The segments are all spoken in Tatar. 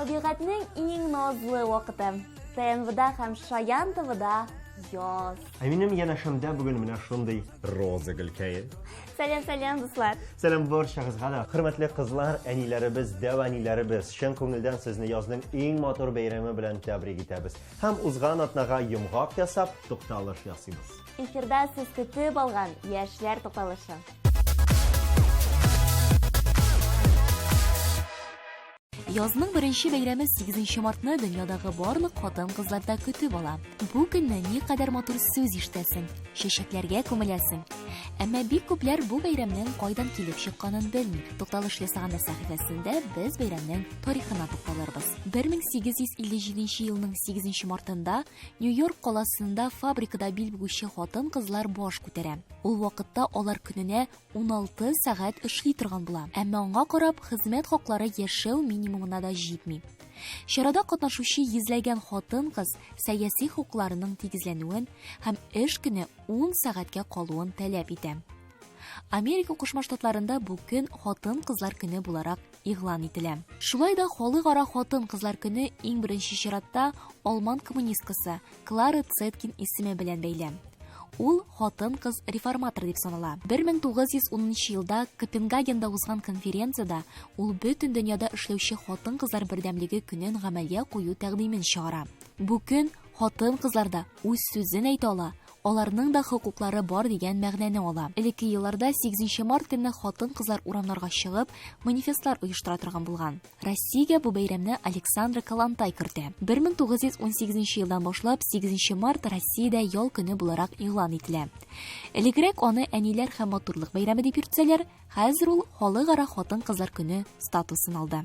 Табигатьнең иң назлы вакыты. ТНВда һәм Шаян ТВда яз. Ә минем янәшәмдә бүген менә шундый роза гөлкәе. Сәлам, сәлам, дуслар. Сәлам барчагызга да. Хөрмәтле кызлар, әниләребез, дәваниләребез, чын күңелдән сезне язның иң матур бәйрәме белән тәбрик итәбез. Һәм узган атнага йомгак ясап, тукталыш ясыйбыз. Эфирда сез көтеп алган яшьләр тукталышы. Язның беренче бәйрәме 8 мартны дөньядагы барлык хатын-кызларда көтеп ала. Бу көнне никадәр матур сүз ишетәсең, чәчәкләргә күмеләсең. Әмма бик күпләр бу бәйрәмнең кайдан килеп чыкканын белми. Тукталыш ясаганда сәхифәсендә без бәйрәмнең тарихына тукталырбыз. 1857 елның 8 мартында Нью-Йорк каласында фабрикада бил бүгүче хатын-кызлар баш күтәрә. Ул вакытта алар көненә 16 сәгать эшли торган була. Әмма аңа карап, хезмәт хаклары яшәү минимумына да җитми. Чарада катнашучы йөзләгән хатын-кыз сәяси хокукларының тигезләнүен һәм эш көне 10 сәгатькә калуын таләп итә. Америка Кушма Штатларында бу көн хатын-кызлар көне буларак игълан ителә. Шулай да Халыкара хатын-кызлар көне иң беренче чиратта алман коммунисткасы Клара Цеткин исеме белән бәйле. Ул хатын-кыз реформатор дип санала. 1910 елда Копенгагенда узган конференцияда ул бөтен дөньяда эшләүче хатын-кызлар бердәмлеге көнен гамәлгә кую тәкъдимен чыгара. Бу көн хатын-кызларда үз сүзен әйтә ала, аларның да хокуклары бар дигән мәгънәне ала. Элекке елларда сигезенче март көнне хатын-кызлар урамнарга чыгып, манифестлар оештыра торган булган. Россиягә бу бәйрәмне Александра Калантай кертә. 1918 елдан башлап сигезенче март Россиядә ял көне буларак игълан ителә. Элегрәк аны әниләр һәм матурлык бәйрәме дип йөртсәләр, хәзер ул Халыкара хатын-кызлар көне статусын алды.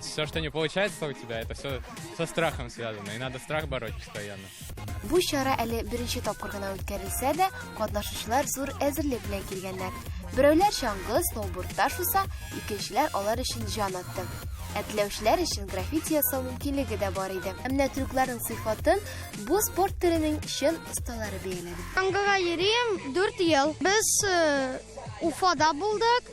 Все, что не получается у тебя, это все со страхом связано, и надо страх бороть постоянно. Бу чара әле беренче тапкыр гына үткәрелсә дә, катнашучылар зур әзерлек белән килгәннәр. Берәүләр чаңгы, сноубордта шуса, икенчеләр алар өчен җан атты. Ә теләүчеләр өчен граффити ясау мөмкинлеге дә бар иде. Ә менә трюкларның сыйфатын бу спорт төренең чын осталары бәяләде. Чаңгыга йөрим 4 ел. Без э, Уфада булдык.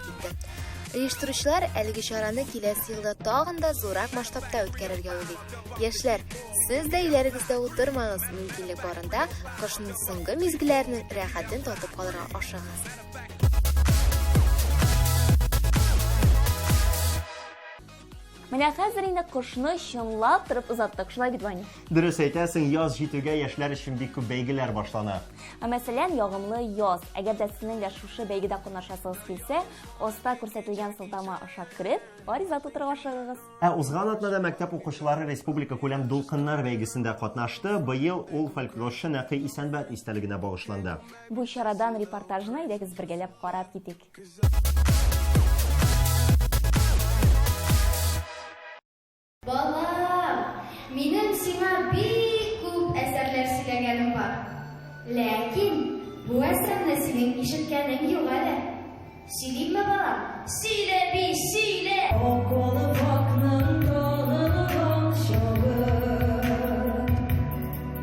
китте. Оештыручылар әлеге чараны киләсе елда тагын да зурак масштабта үткәрергә уйлый. Яшьләр, сез дә өйләрегездә утырмагыз, мөмкинлек барында кышның соңгы мизгелләренең рәхәтен татып калырга ашыгыгыз. Менә хәзер инде кошны чынлап торып озаттык, шулай бит, Ваня? Дөрес әйтәсең, яз җитүгә яшьләр өчен бик күп бәйгеләр башлана. Ә мәсәлән, ягымлы яз. Әгәр дә сезнең дә шушы бәйгедә катнашасыгыз килсә, оста күрсәтелгән сылтама аша кереп, гариза тутырып ашыгыгыз. Ә узган атнада мәктәп укучылары республика күләм дулкыннар бәйгесендә катнашты. Быел ул фольклорчы Нәкый Исәнбәт истәлегенә багышланды. Бу чарадан репортажны әйдәгез бергәләп карап китик. Балам, минем сиңа бик күп әсәрләр сөйләгәнем бар. Ләкин бу әсәрне синең ишеткәнең юк әле. Сөйлимме, балам? Сөйлә би, сөйлә! Акылы бакның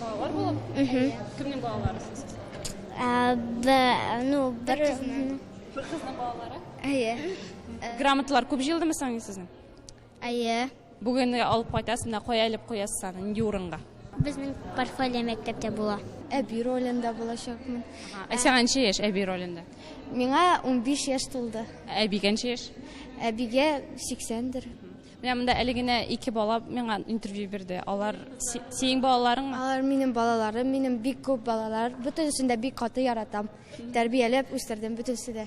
Балалар булып? Әйе. Кемнең балалары сез? Ә, б, ну, бер кызның. Бер кызның балалары? Әйе. Грамоталар күп җыелдымы соң сезнең? Әйе. Бүген алып кайтасыз, менә кая элеп куясыз аны, нинди урынга? Безнең портфолио мәктәптә була. Әби ролендә булачакмын. Ә сиңа ничә яшь әби ролендә? Миңа 15 яшь тулды. Әбигә ничә яшь? Әбигә 80 дер. Менә монда әле генә ике бала миңа интервью бирде. Алар синең балаларыңмы? Алар минем балаларым, минем бик күп балалар. Бөтенесен дә бик каты яратам. Тәрбияләп үстердем бөтенесе дә.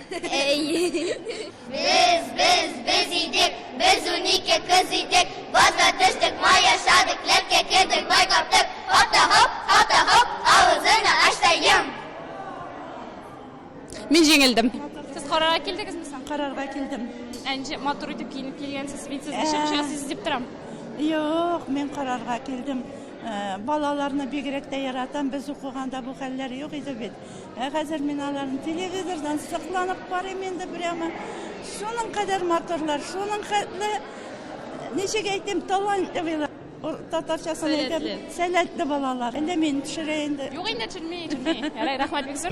Без, без, без идек, без унике кыз идек, базга төштек, май яшадык, ләпкә кердек, май каптык, хата хоп, хата хоп, авызына ач та йом. Мин җиңелдем. Сез карарга килдегезме соң? Карарга килдем. Әнҗе матур итеп киенеп килгәнсез. Мин сезне чыгыш ясыйсыз дип торам. Юк, мин карарга килдем. Э, Балаларны бигрәк тә яратам. Без укыганда бу хәлләр юк иде бит. Ә хәзер мин аларны телевизордан сокланып карыйм инде прямо. Шуның кадәр матурлар, шуның хәтле, ничек әйтим, талантливыйлар. Татарчасын әйтеп, сәләтле балалар. Әллә мин төшерә инде. Юк инде төшерми, төшерми. Ярай, рәхмәт бик зур.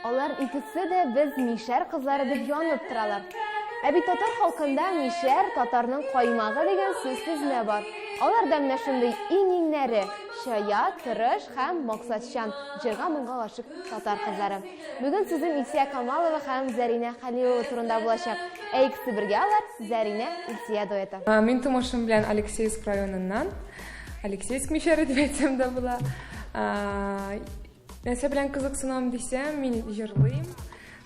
Алар икесе дә без мишәр кызлары дип янып торалар. Ә бит татар халкында мишәр татарның каймагы дигән сүз сүзмә бар. Алар да менә шундый иң-иңнәре, чая, тырыш һәм максатчан, җырга моңга гашык татар кызлары. Бүген сүзем Илсия Камалова һәм Зәринә Хәлилова турында булачак. Ә икесе бергә алар Зәринә Илсия дуэты. Мин тумышым белән Алексеевск районыннан. Алексеевск мишәре дип әйтсәм дә була. Нәрсә белән кызыксынам дисәм, мин җырлыйм.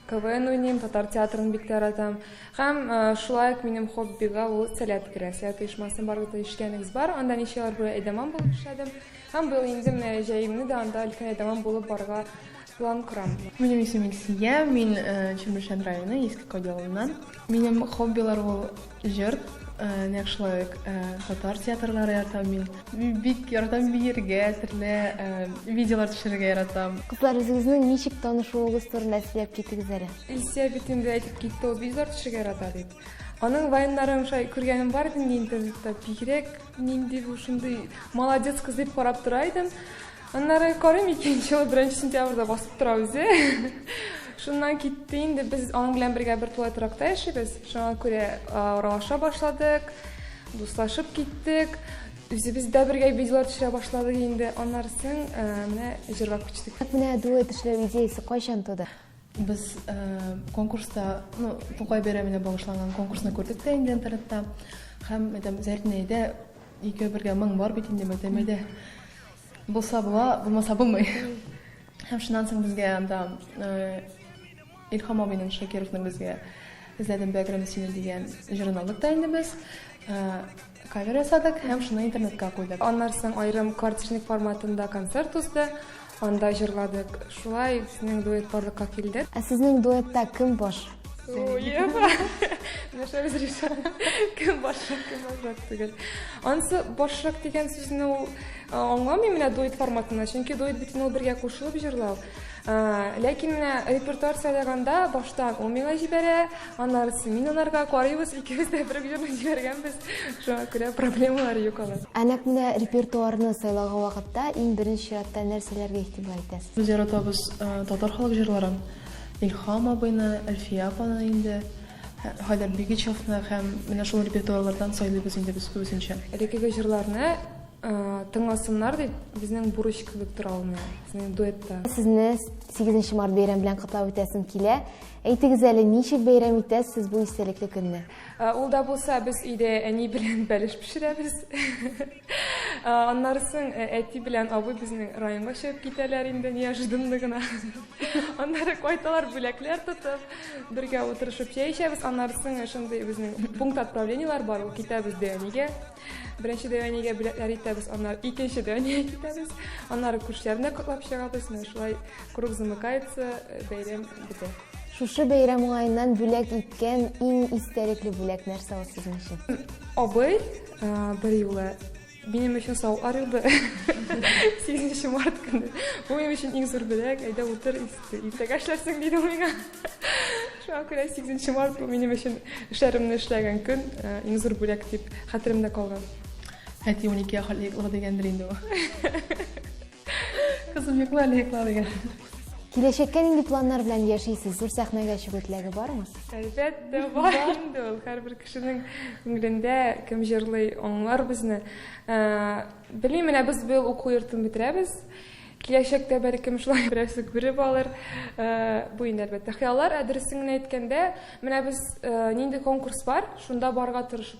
КВН уйныйм, татар театрын бик яратам. Һәм шулай ук минем хоббига ул сәләт керә. Сәләт оешмасын барлык та ишеткәнегез бар. Анда ничә ел буе әйдәман булып эшләдем. Һәм быел инде менә җәемне дә анда өлкән әйдәман булып барырга План корам. Минем исем Илсия, мин Чүмершән районы Иске Кади авылыннан. Минем хоббилар ул җыр, нәкъшулай ук татар театрлары яратам мин. Мин бик яратам биергә, төрле видеолар төшерергә яратам. Кызлар, үзегезнең ничек танышуыгыз турында сөйләп китегез әле. Илсия бит инде әйтеп китте ул видеолар төшерергә ярата дип. Аның вайннарын шулай күргәнем бар иде инде интернетта. Бигрәк нинди бу шундый молодец кыз дип карап тора идем. Аннары карыйм икенче ел беренче сентябрьдә басып тора үзе. Шуннан китте инде без аның белән бергә бер тулай торакта яшибез. Шуңа күрә аралаша башладык, дуслашып киттек. Үзебез дә бергә видеолар төшерә башладык инде. Аннары соң менә җырлап кичтек. Менә дуэт эшләү идеясе кайчан туды? Без конкурста, ну, Тукай бәйрәменә багышланган конкурсны күрдек тә инде интернетта. Һәм, мәдәм, Зәрнәйдә икәү бергә моң бар бит инде, мәдәмәдә. Булса була, булмаса булмый. Һәм шуннан соң безгә анда Илхам абыйның Шакировның безгә эзләдем бәгрем сине дигән җырын алдык та инде без. Кавер ясадык һәм шуны интернетка куйдык. Аннан соң аерым квартирник форматында концерт узды. Анда җырладык. Шулай безнең дуэт барлыкка килде. Ә сезнең дуэтта кем баш? Нәрсә разреша? Кем башрак, кем башрак түгел. Ансы башрак дигән сүзне ул аңламый менә дуэт форматында, чөнки дуэт бит ул бергә кушылып җырлау. Ләкин менә репертуар сайлаганда башта ул миңа җибәрә, аннары мин анарга карыйбыз, икебез дә бер җырны җибәргәнбез. Шуңа күрә проблемалар юк алар. Ә нәкъ менә репертуарны сайлаган вакытта иң беренче чиратта нәрсәләргә игътибар итәсез? Без яратабыз татар халык җырларын. Илһам абыйны, Әлфия апаны инде, Хәйдәр Бигичевны һәм менә шул репертуарлардан сайлыйбыз инде без күбесенчә. Элеккеге җырларны тыңласыннар дип, безнең бурыч кебек тора ул миңа, сезнең дуэтта. Сезне 8 нче март бәйрәм белән котлап үтәсем килә. Әйтегез әле, ничек бәйрәм итәсез сез бу истәлекле көнне? Ул да булса, без өйдә әни белән бәлеш пешерәбез. Аннары соң әти белән абый безнең районга чыгып китәләр инде неожиданно гына. Аннары кайталар бүләкләр тотып, бергә утырышып чәй эчәбез. Аннары соң шундый безнең пункт отправлениеләр бар, ул китәбез Дәвәнигә. Беренче Дәвәнигә бүләкләр итәбез, аннары икенче Дәвәнигә китәбез. Аннары күршеләрне котлап чыгабыз. Менә шулай круг замыкается, бәйрәм бетә. Шушы бәйрәм уңаеннан бүләк иткән иң истәлекле бүләк нәрсә ул сезнең өчен? Абый Бер юлы минем өчен савытлар юлды. 8 март көне. Бу минем өчен иң зур бүләк. Әйдә утыр, иртәгә эшләрсең диде ул миңа. Шуңа күрә 8 март бу минем өчен эшләремне эшләгән көн, э, иң зур бүләк дип хәтеремдә калган. Әти 12 яхатлык дигәндер инде бу. Кызым, йокла әле, йокла, диген. Киләчәккә нинди планнар белән яшисез? Зур сәхнәгә чыгу теләге бармы? Әлбәттә, бар инде ул. Һәрбер кешенең күңелендә кем җырлый, аңлар безне. Ә, Белмим, менә без быел уку йортын бетерәбез. Киләчәктә бәлкем шулай берәрсе күреп алыр. Ә, Бу инде әлбәттә хыяллар, ә дөресен генә әйткәндә, менә без ә, нинди конкурс бар, шунда барырга тырышып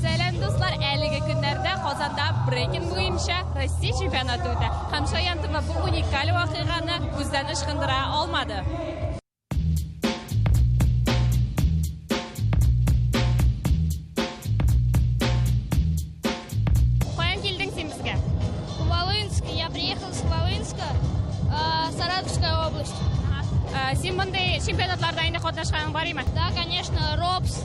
Сәлам, дуслар! Әлеге көннәрдә Казанда брейкинг буенча Россия чемпионаты үтә. Һәм Шаян ТВ бу уникаль вакыйганы күздән ычкындыра алмады. Каян килдең син безгә? Волынск. Я приехал с Волынска, а, Саратовская область. Ә, Син мондый чемпионатларда инде катнашканың бар име? Да, конечно, РОПС,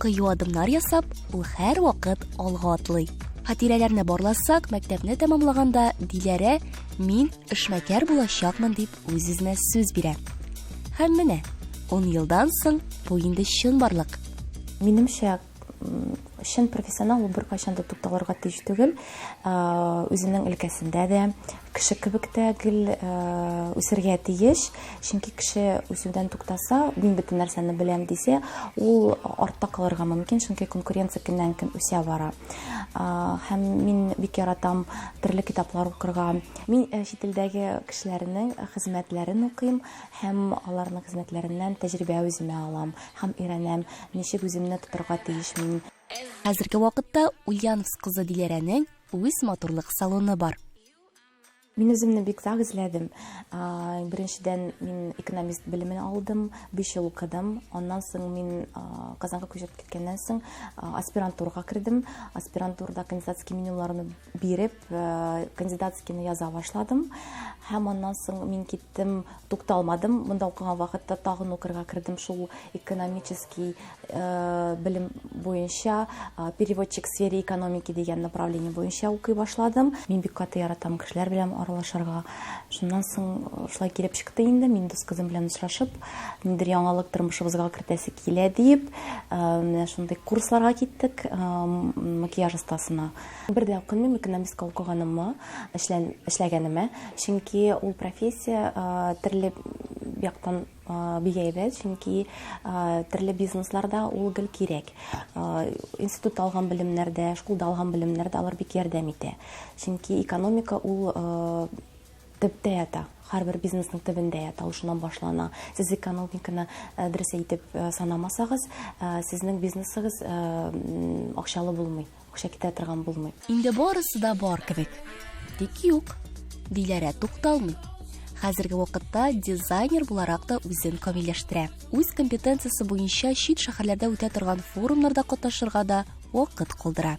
Кыю адымнар ясап, ул һәрвакыт алга атлый. Хатирәләрне барласак, мәктәпне тәмамлаганда Диләрә мин эшмәкәр булачакмын дип үз-үзенә сүз бирә. Һәм менә 10 елдан соң бу инде чынбарлык. Минемчә, чын профессионал ул беркайчан да тукталырга тиеш түгел үзенең өлкәсендә дә кеше кебек тә гел үсергә тиеш чөнки кеше үсүдән туктаса мин бөтен нәрсәне беләм дисә ул артта калырга мөмкин чөнки конкуренция көннән көн үсә бара һәм мин бик яратам төрле китаплар укырга мин чит илдәге кешеләрнең хезмәтләрен укыйм һәм аларның хезмәтләреннән тәҗрибә үземә алам Һәм өйрәнәм, ничек үземне тотырга тиеш мин. Хәзерге вакытта Ульяновск кызы Диләрәнең үз матурлык салоны бар. Мин үземне бик сак эзләдем. Беренчедән, мин экономист белемен алдым, биш ел укыдым. Аннан соң мин Казанга күчеп киткәннән соң аспирантурага кердем. Аспирантурада кандидатский менюларны биреп, э, кандидатскийны яза башладым. Һәм аннан соң мин киттем, тукталмадым. Монда укыган вакытта тагын укырга кердем шул экономический э, белем буенча, э, переводчик сфере экономики дигән направление буенча укый башладым. Мин бик каты яратам кешеләр белән аралашырга. Шуннан соң шулай килеп чыкты инде, мин дус кызым белән очрашып, ниндер яңалык тормышыбызга кертәсе килә дип, менә шундый курсларга киттек, макияж остасына. Бер дә үкенмим экономистка укыганыма, эшлән, эшләгәнемә, чөнки ул профессия төрле яктан бик әйбәт, чөнки төрле бизнесларда ул гел кирәк. Институтта алган белемнәрдә, школда алган белемнәрдә алар бик ярдәм итә. Чөнки экономика ул төптә ята һәрбер бизнесның төбендә ята ул шуннан башлана сез экономиканы э, дөрес әйтеп э, санамасагыз э, сезнең бизнесыгыз акчалы булмый акча китә торган булмый. Инде барысы да бар кебек. Тик юк. Диләрә тукталмый. Хәзерге вакытта дизайнер буларак та үзен камилләштерә. Үз компетенциясе буенча чит шәһәрләрдә үтә торган форумнарда катнашырга да вакыт калдыра.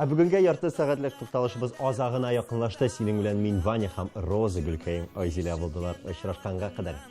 Ә бүгенге ярты сәгатьлек тукталышыбыз азагына якынлашты. Синең белән мин Ваня һәм Роза Гөлкәем Айзилә булдылар. Очрашканга кадәр.